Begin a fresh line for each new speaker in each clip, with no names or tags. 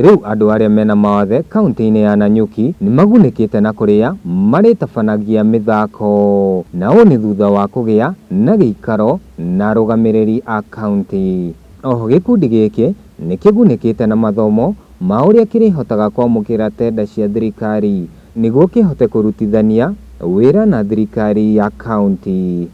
Rĩu andũ arĩa mena mawathe kauntĩ-inĩ ya Nanyuki nĩmagunĩkĩte na kũrĩa marĩtabanagia mĩthako, na ũũ nĩ thutha wa kũgĩa na gĩikaro na arũgamĩrĩri a kauntĩ. Oho gĩkundi gĩkĩ nĩkĩgunĩkĩte na mathomo ma ũrĩa kĩrĩhotaga kwamũkĩra tenda cia thirikari nĩguo kĩhote kũrutithania wĩra na thirikari ya kauntĩ.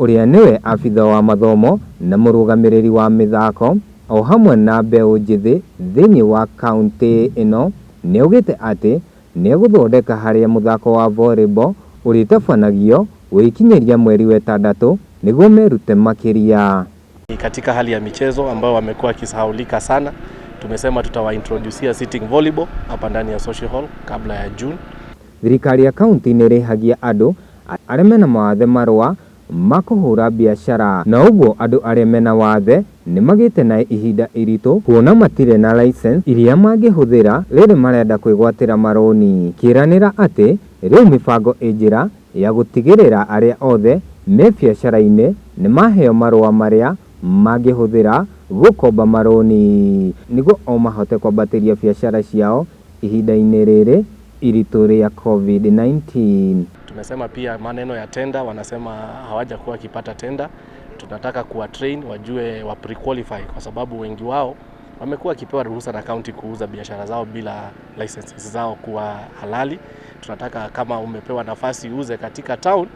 ũrĩa nĩwe abitha wa mathomo na mũrũgamĩrĩri wa mĩthako o hamwe na mbeũ njĩthĩ thĩinĩ wa kauntĩ ĩno, nĩ augĩte atĩ nĩ egũthondeka harĩa mũthako wa volleyball ũrĩtabanagio gũgĩkinyĩria mweri wetandatũ nĩguo merute makĩria. Ni katika hali ya michezo ambayo wamekuwa wakisahaulika sana. Tumesema tutawaintroducia sitting volleyball hapa ndani ya social hall kabla ya June. Thirikari ya kaunti nĩ ĩrĩhagia andũ arĩa mena mawathe marũa ma kũhũra biacara, na ũguo andũ arĩa mena wathe nĩ magĩte na ihinda iritũ kuona matirĩ na license iria mangĩhũthĩra rĩrĩ marenda kwĩgwatĩra marũni. Kĩranĩra atĩ rĩu mĩbango ĩ njĩra ya gũtigĩrĩra arĩa othe me biacara-inĩ nĩ maheo marũa marĩa mangĩhũthĩra gũkomba marũni nĩguo o mahote kwambatĩria biacara ciao ihinda-inĩ rĩrĩ iritũ rĩa Covid-19. Tumesema pia maneno ya tender, wanasema hawajakuwa wakipata tender. Tunataka kuwa train wajue wa pre-qualify kwa sababu wengi wao wamekuwa wakipewa ruhusa na kaunti kuuza biashara zao bila licenses zao kuwa halali. Tunataka kama umepewa nafasi uuze katika town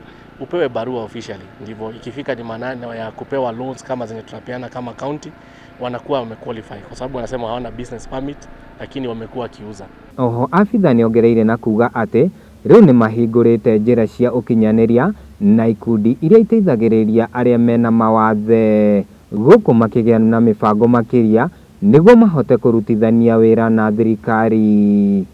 upewe barua officially, ndivyo ikifika ni maneno ya kupewa loans kama zenye tunapeana kama county, wanakuwa wamequalify kwa sababu wanasema hawana business permit, lakini wamekuwa wakiuza. Oho abitha nĩongereire na kuuga atĩ rĩu nĩmahingũrĩte njĩra cia ũkinyanĩria na ikundi iria iteithagĩrĩria arĩa mena mawathe gũkũ makĩgĩa na mĩbango makĩria nĩguo mahote kũrutithania wĩra na thirikari.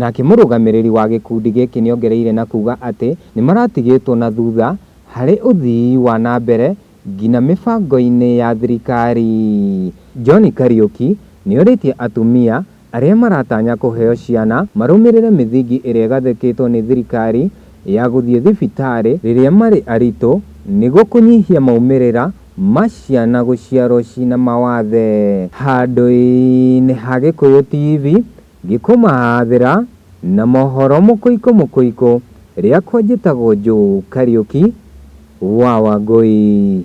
Nake mũrũgamĩrĩri wa gĩkundi gĩkĩ nĩongereire na kuuga atĩ nĩmaratigĩtwo na thutha harĩ ũthii wa na mbere ngina mĩbango-inĩ ya thirikari. John Kariuki nĩorĩtie atumia arĩa maratanya kũheo ciana marũmĩrĩre mĩthingi ĩrĩa ĩgathĩkĩtwo nĩ thirikari ya gũthiĩ thibitarĩ rĩrĩa marĩ aritũ nĩguo kũnyihia maumĩrĩra ma ciana gũciarwo ciĩna mawathe. Handũ-inĩ ha Gĩkũyũ TV Ngĩkũmahaabĩra na mohoro mũkũikũ mũkũikũ, rĩakwa njĩtagwo Joe Kariũki wa Wangũi.